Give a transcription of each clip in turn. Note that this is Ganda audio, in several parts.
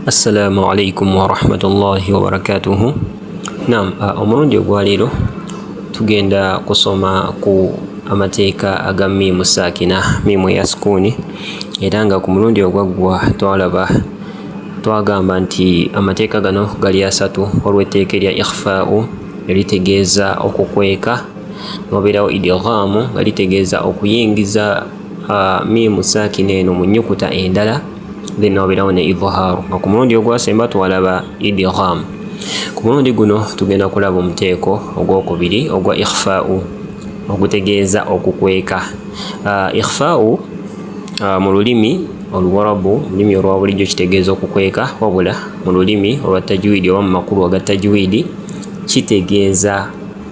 assalamu alaikum warahmatullahi wabarakatuhu nam omulundi ogwaleero tugenda kusoma ku amateeka aga miimu saakina miimu ya sukuuni era nga ku mulundi ogwaggwa twalaba twagamba nti amateeka gano gali asatu olw'etteeka erya ikhfau eritegeeza okukweka nobeerawo idighamu nga litegeeza okuyingiza miimu saakina eno mu nnyukuta endala bino obirawo ne idhaaru nga ku mulundi ogwasemba twalaba idgham ku mulundi guno tugenda kulaba omuteeko ogwokubiri ogwa ikhfau ogutegeeza okukweka uh, ikhfau uh, mu lulimi oluwarabu lulimi olwa bulijjo kitegeeza okukweka wabula mu lulimi olwa tajwidi oba mu makulu aga tajwidi kitegeeza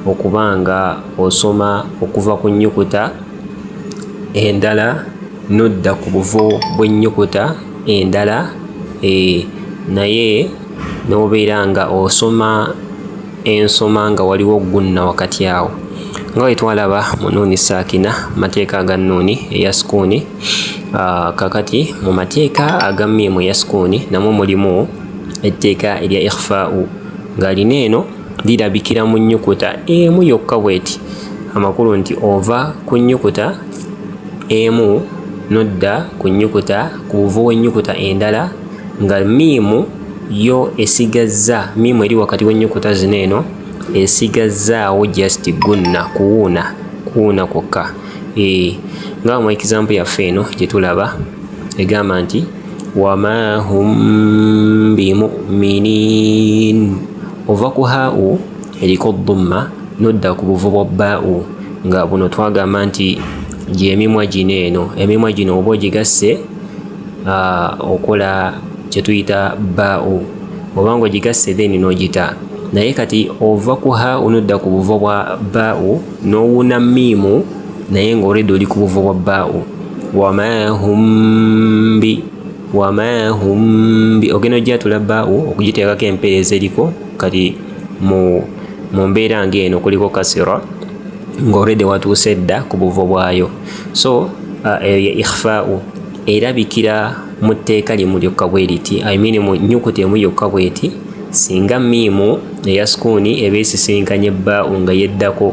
okuba nga osoma okuva ku nnyukuta endala n'odda ku buvo bw'ennyukuta endala eeh naye n'obeera nga osoma ensoma nga waliwo gunna wakati awo nga bwe twalaba mu nuuni saakina mateeka aga nuuni eya sukuuni ah, kakati mu mateeka aga miimu eya sukuuni namwo mulimu etteeka erya ikhfau ng'alina eno lirabikira mu nnyukuta emu yokka bw'eti amakulu nti ova ku nnyukuta emu n'odda ku nnyukuta ku buvo w'ennyukuta endala nga miimu yo esigazza miimu eri wakati w'ennyukuta zino eno esigazzaawo just gunna kuwuuna kuwuuna kwokka ee eh, nga mu example yaffe eno gye tulaba egamba nti wama hum bimuminin ova ku hau eriko ddumma nodda ku buvu bwa bau nga buno twagamba nti gyemimwa gino eno emimwa gino oba ogigasse okola kyetuyita bau oba nga ogigasse then nogita naye kati ova ku hau nodda ku buvo bwa bau nowuna miimu naye nga olwedde oli ku buvo bwa bau wama humbi wama humbi ogenda ojjatula baawo okugiteekako empeereza eriko kati mu mu mbeera ng'eno kuliko kasira ng'olredde watuuse dda ku buvo bwayo so uh, eyo ye ikhfau erabikira mu tteeka limu lyokka bwe liti i mean mu nyukuta emu yokka bweti singa miimu eya sukuuni eba esisinkanye bbaau nga yeddako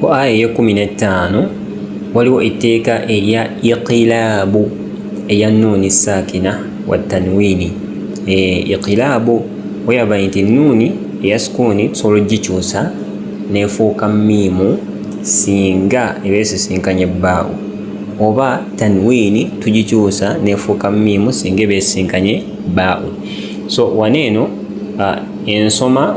ku aya eyekumi n'ettaano waliwo etteeka erya iqilaabu eya nuuni saakina wa tanwiini eh, iqilaabu weyaba nti nuuni eya sukuuni tusobola okugikyusa nefuuka miimu singa eba esisinkanye bbaawo oba tanwiini tugikyusa nefuuka miimu singa eba esisinkanye bbaawo so wano eno ah, ensoma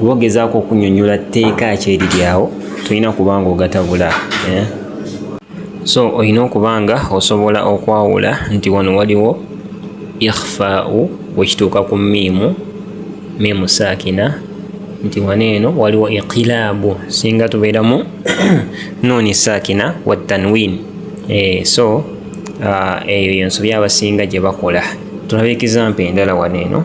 oba ogezaako okunyonyola tteeka ki eriryawo tolina kuba nga ogatabula eh? so olina okuba nga osobola okwawula nti wano waliwo ikhfau wekituuka ku miimu miimu saakina nti wano eno waliwo iqilaabu singa tubeeramu nuuni saakina wa tanwin eh, so ah, eyo yensobi abasinga gye bakola tulabe ekizampa endala wano eno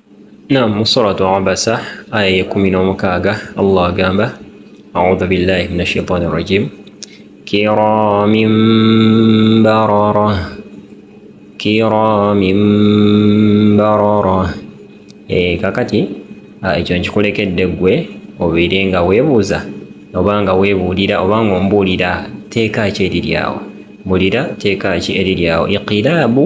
Naam, mu suratu Abasa aya y'ekkumi n'omukaaga Allah agamba audhu billahi min ashaitani rajim kiramin barara kiramin barara e, eh, kakati ekyo nkikulekedde ggwe obeere nga weebuuza oba nga weebuulira oba nga ombuulira teeka ki eriri awo mbuulira teeka ki eriri awo iqilaabu